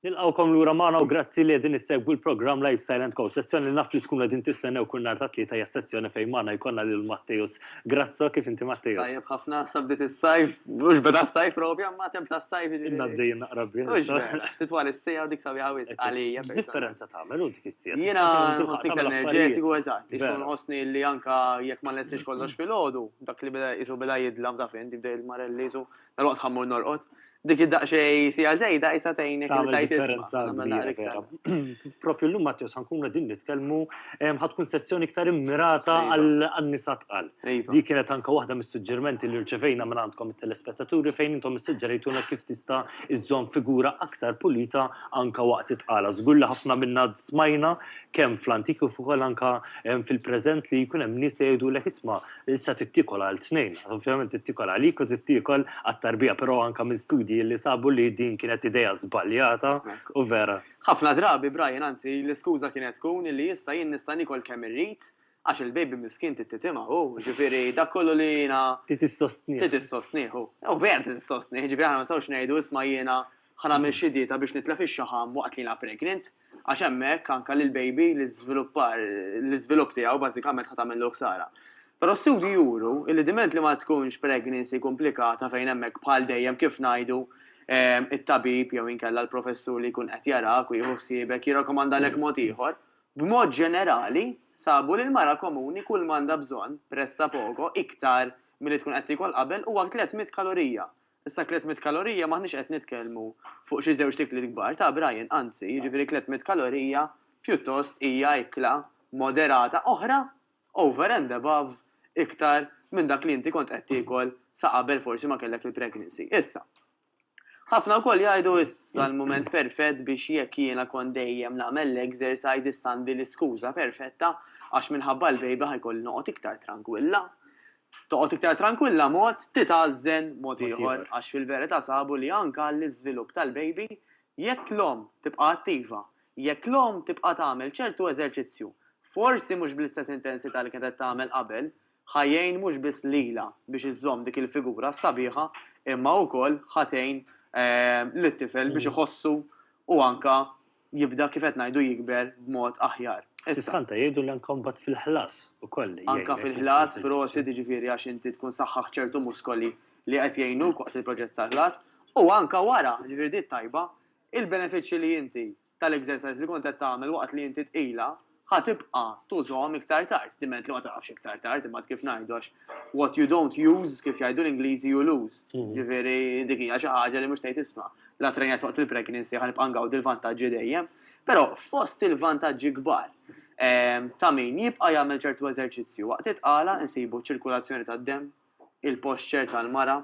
Nilqgħukom lura magħna u grazzi li qegħdin issegwu l-programm Lifestyle and Co. Sezzjoni li naf li tkunu qegħdin tistennew kull nhar tat-Tlieta hija s-sezzjoni fejn magħna jkollna lil Matteus Grasso. Kif inti Matteus? Tajjeb ħafna, sa bdiet is-sajf, mhux beda s-sajf propja, imma temp tas-sajf jiġifieri. Inna għaddejjin naqra bih. Mhux vera, titwal is-sija u dik sabiħa wisq għalija. X'differenza tagħmel hu dik is-sija? Jiena nħossni iktar enerġetiku eżatt, issa nħossni li anke jekk ma nlestix kollox filgħodu, dak li beda qisu beda jidlam ta' fejn, jibda il-marelli qisu Roqt ħammur norqot. Dik id-daqxej sija zejda jisa tejnek il-tajt differenza. Propju l-lum Matteo sankuna din nitkellmu ħatkun sezzjoni iktar immirata għal-nisa tqal. Di kienet anka waħda mis-suġġermenti li rċevejna minn għandkom il-telespettaturi fejn intom is-suġġerejtuna kif tista' iżżomm figura aktar pulita anka waqt it-tqala. Żgur li ħafna minna smajna kemm fl-antiku fuq anka fil-preżent li jkun hemm nies li jgħidulek isma' Issa tittikol għal tnejn, ovvjament tittikol għalik u tittikol għat-tarbija, però anka minn studji li sabu li din kienet idea żbaljata u vera. Ħafna drabi, Brian, anzi, l-iskuża kienet tkun li issa jien nista' niekol kemm irrid għax il-baby miskin trid titimha hu, jiġifieri dak kollu li jiena. Trid issostnih. Trid issostnih hu. U vera trid issostnih, jiġifieri aħna ma nistgħux ngħidu isma' jiena Ħa nagħmel xi dieta biex nitlef ix-xaħam waqt li jiena pregnant, għax hemmhekk anke lill-baby l-iżviluppar, l-iżvilupp tiegħu bażikament ħa tagħmillu ħsara. Però studji juru li diment li ma tkunx pregnancy komplikata fejn hemmhekk bħal dejjem kif ngħidu it-tabib jew inkella l-professur li jkun qed jarak u jieħu ħsiebek jirrakomandalek mod ieħor, b'mod ġenerali sabu li l-mara komuni kull m'għandha bżonn, pressa poco, iktar milli tkun qed tiekol qabel huwa 300 kalorija. Issa 300 kalorija m'aħniex qed nitkellmu fuq xi żewġt ikliet kbar, ta' Brian, anzi, jiġifieri 300 kalorija pjuttost hija ikla moderata oħra over and above iktar minn dak li inti kont qed tiekol sa qabel forsi ma kellek il-pregnancy. Issa, ħafna wkoll jgħidu issa l-mument perfett biex jekk jiena kont dejjem nagħmel l-exercise issa għandi l-iskuża perfetta għax minħabba l-baby ħa jkolli noqgħod iktar trankwilla. toqgħod iktar trankwilla mod titgħażżen mod ieħor għax fil-verità sabu li anke għall-iżvilupp tal-baby jekk l-omm tibqa' attiva, jekk l-omm tibqa' tagħmel ċertu eżerċizzju, forsi mhux bl-istess intensità li kienet qed tagħmel qabel, ħa jgħin mhux biss lilha biex iżżomm dik il-figura sabiħa imma wkoll ħa tgħin lit-tifel biex iħossu u anke jibda kif qed ngħidu jikber b'mod aħjar. Tista' anta jgħidu li anka mbagħad fil-ħlas ukoll jgħinek. Anka fil-ħlas, prosit, jiġifieri għax inti tkun saħħaħt ċertu muskoli li qed jgħinuk waqt il-proċess tal-ħlas. U anka wara, jiġifieri di t-tajba, il-benefiċċji li inti tal-exercise li kont qed tagħmel waqt li inti tqila, ħa tibqa' tużahom iktar tard, diment li ma taqafx iktar tard, imbagħad kif ngħidu għax what you don't use, kif jgħidu l-Ingliżi, you lose. Jiġifieri dik hija xi ħaġa li mhux tgħid isma', la trrenjajt waqt il-pregnancy ħa nibqa' ngawdi l-vantaġġi dejjem. Però fost il-vantaġġi kbar ta' min jibqa' jagħmel ċertu eżerċizzju waqt it-tqala nsibu ċ-ċirkulazzjoni tad-demm, il-posture tal-mara,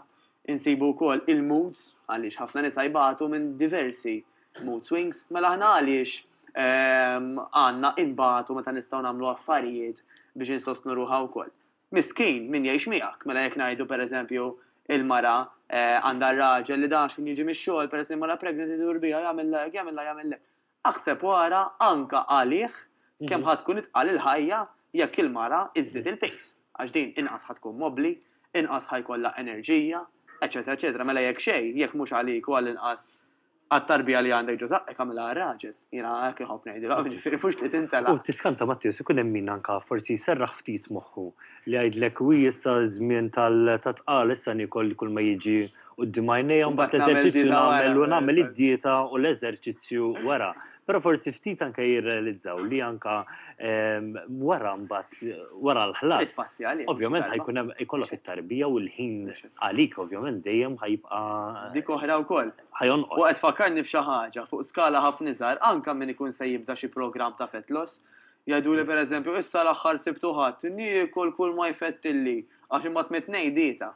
insibu wkoll il-moods għaliex ħafna nisa jbatu minn diversi mood swings, mela aħna għaliex għandna inbatu meta nistgħu nagħmlu affarijiet biex insostnu ruħha wkoll. Miskin min jgħix miegħek, mela jekk ngħidu per eżempju il-mara għandha r-raġel li daqs xejn jiġi mix-xogħol peress li jmorrha pregnant idur biha jagħmilha hekk jagħmilha jagħmilha hekk. Aħseb u ara anke għalih kemm ħa tkun itqal il-ħajja jekk il-mara żżid il-pejs, għax din inqas ħa tkun mobbli, inqas ħa jkollha enerġija, eċċetera eċċetera. Mela jekk xejn, jekk mhux għalik u għall-inqas għat-tarbija li għandek ġo żaqqek agħmilha għar-raġel. Jiena hekk inħobb ngħidilhom, jiġifieri mhux li tintelaq. U tiskanta Matteus ikun hemm min anke forsi jserraħ ftit moħħu. Li jgħidlek wi issa ż-żmien tat-tqala issa niekol kull ma jiġi quddiem għajnejja u mbagħad l-eżerċizzju nagħmel u nagħmel id-dieta u l-eżerċizzju wara. Però forsi ftit anke jirrealizzaw li anke wara mbagħad wara l-ħlas ovvjament ħa jkun hemm ikollok it-tarbija u l-ħin għalik ovvjament dejjem ħa jibqa' Dik oħra wkoll. ħa jonqos. U qed tfakkarni b'xi ħaġa fuq skala ħafna iżgħar anke min ikun se jibda xi programm ta' fat loss Jgħiduli per eżempju, issa l-aħħar Sibt u Ħadd, niekol kull ma jfettilli, għax imbagħad mit-Tnejn dieta.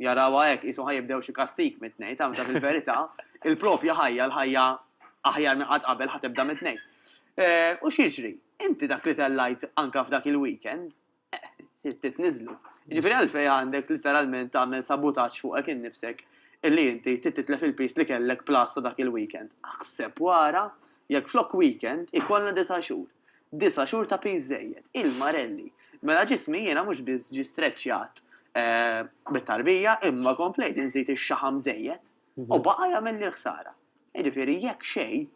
Jarawha hekk, qishom ħa jibdew xi kastig mit-Tnejn, taf, meta fil-verità, il-propja ħajja, l-ħajja aħjar minn qatt qabel ħa tibda mit-Tnejn. U x'jiġri? Inti dak li tellajt anke f'dak il-weekend, Titniżlu. Ġifieri għalfejn għandek literalment tagħmel sabutaġġ fuqek innifsek illi inti titlef il-piż li kellek plus ta' dak il-weekend. Aħseb wara jekk flok weekend ikollna disa' xhur. Disa' xhur ta' piż żejjed. Il-marelli. Mela ġismi jiena mhux biss ġie streċċjat bit-tarbija imma komplejt inżid ix-xaħam żejjed u baqa' jagħmilli l-ħsara. Jiġifieri jekk xejn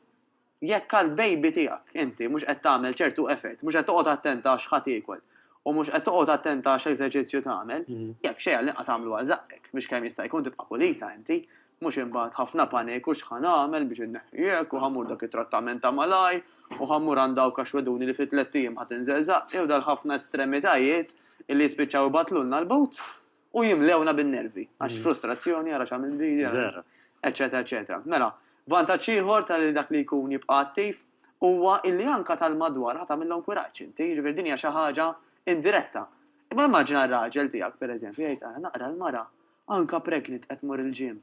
Jekk għall-baby tiegħek inti mhux qed tagħmel ċertu effort, mhux qed toqgħod attent għax ħa tiekol, u mhux qed toqgħod attent għax eżerċizzju tagħmel, jekk xejn għall-inqas agħmlu għal żaqqek biex kemm jista' jkun tibqa' pulita inti, mhux imbagħad ħafna paniku x'ħa nagħmel biex inneħħiek u ħa mmur dak it-trattament ta' malajr u ħa mmur għand dawk għax weduni li fi tlett ijiem ħa tinżel żaqqi u dal-ħafna estremitajiet illi jispiċċaw ibattlulna l-but. u jimlewna bin-nervi, għax frustrazzjoni, ara x'għamilt bi, eċċetera eċċetera. Mela, vantaġġ ieħor ta' lil dak li jkun jibqa' attiv huwa illi anke tal-madwar ħa tagħmilhom kuraġġ inti, jiġifieri din hija xi ħaġa indiretta. Imma immaġina r-raġel tiegħek, pereżempju, jgħid ara naqra l-mara anke pregnant qed tmur il-gym,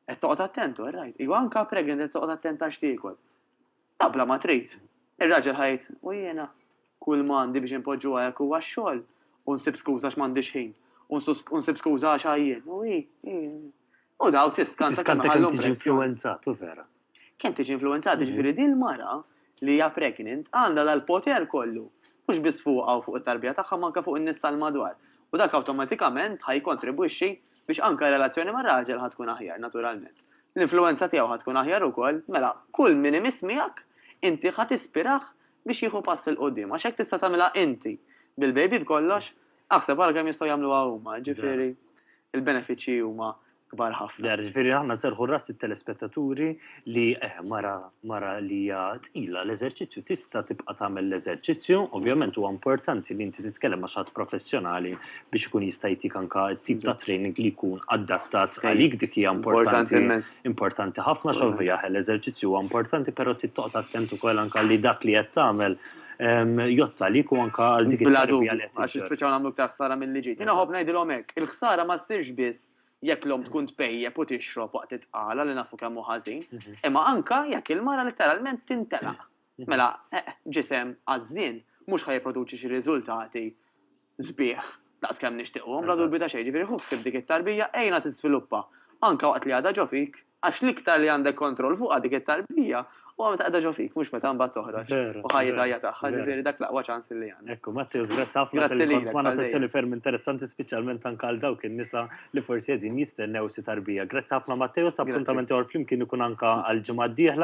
qed toqgħod attent u rajt, iva anke pregnant qed toqgħod attent għax tiekol. Ah, bla ma trid. Ir-raġel ħa jgħid, u jiena? Kull ma għandi biex inpoġġuha hekk huwa x-xogħol, u nsib skuża għax m'għandix ħin, u nsib skuża għax għajjien, u hi, hi. U daw tiskanta kemm iħallu impressjoni. Kemm tiġi influwenzat, u vera. Kemm tiġi influwenzat, jiġifieri din il-mara li hija pregnant għandha dal-poter kollu, mhux biss fuqha u fuq it-tarbija tagħha, ma anke fuq in-nies tal-madwar. U dak awtomatikament ħa jikkontribwixxi Biex anke r-relazzjoni mar-raġel ħa tkun aħjar, naturalment. L-influwenza tiegħu ħa tkun aħjar ukoll, mela, kull min imiss miegħek, inti ħa tispirah biex jieħu pass 'il quddiem. Għax hekk tista' tagħmilha inti bil-baby b'kollox, aħseb ara kemm jistgħu jagħmluha huma, ġifieri, il-benefiċċji huma kbar ħafna. Vera, ġifieri aħna nserrħu ras lit-telespettaturi, li eh, mara, mara li hija tqila l-eżerċizzju tista' tibqa' tagħmel l-eżerċizzju, ovvjament huwa importanti li inti titkellem ma' xatt professjonali biex ikun jista' jtik anka tip ta' training li jkun adattat għalik dik hija importanti importanti ħafna xovija l-eżerċizzju huwa importanti però tittoqgħod attent ukoll anka li dak li qed tagħmel ehm, jotta li ku anka għal dik il-ħsara għax speċaw nagħmlu ktar ħsara mill-liġi. Jiena ħobb ngħidilhom hekk, il-ħsara ma ssirx biss jekk l-omm tkun tpejjep u tixrob waqt it-tqala li nafu kemm hu ħażin, imma anke jekk il-mara litteralment tintelaq. Mela, ġisem għażżien mhux ħa jipproduċi xi riżultati sbieħ daqs kemm nixtiequhom, bla dubju ta' xejn. Jiġifieri ħu ħsieb dik it-tarbija, għinha tiżviluppa, anke waqt li għadha ġo fik. Għax l-iktar li għandek kontroll fuqha dik it-tarbija huwa meta qiegħda ġo fik, mhux meta mbagħad toħroġ u ħajja ħajja tagħha, ġifieri dak l-aqwa ċans li għandna. Ekku, Matteus, grazzi ħafna tal-kont magħna sezzjoni ferm interessanti speċjalment anke għal dawk in-nisa li forsi qegħdin jistennew xi tarbija. Grazzi ħafna Matteus, appuntament ieħor flimkien ikun anke għall-ġimgħa d-dieħla.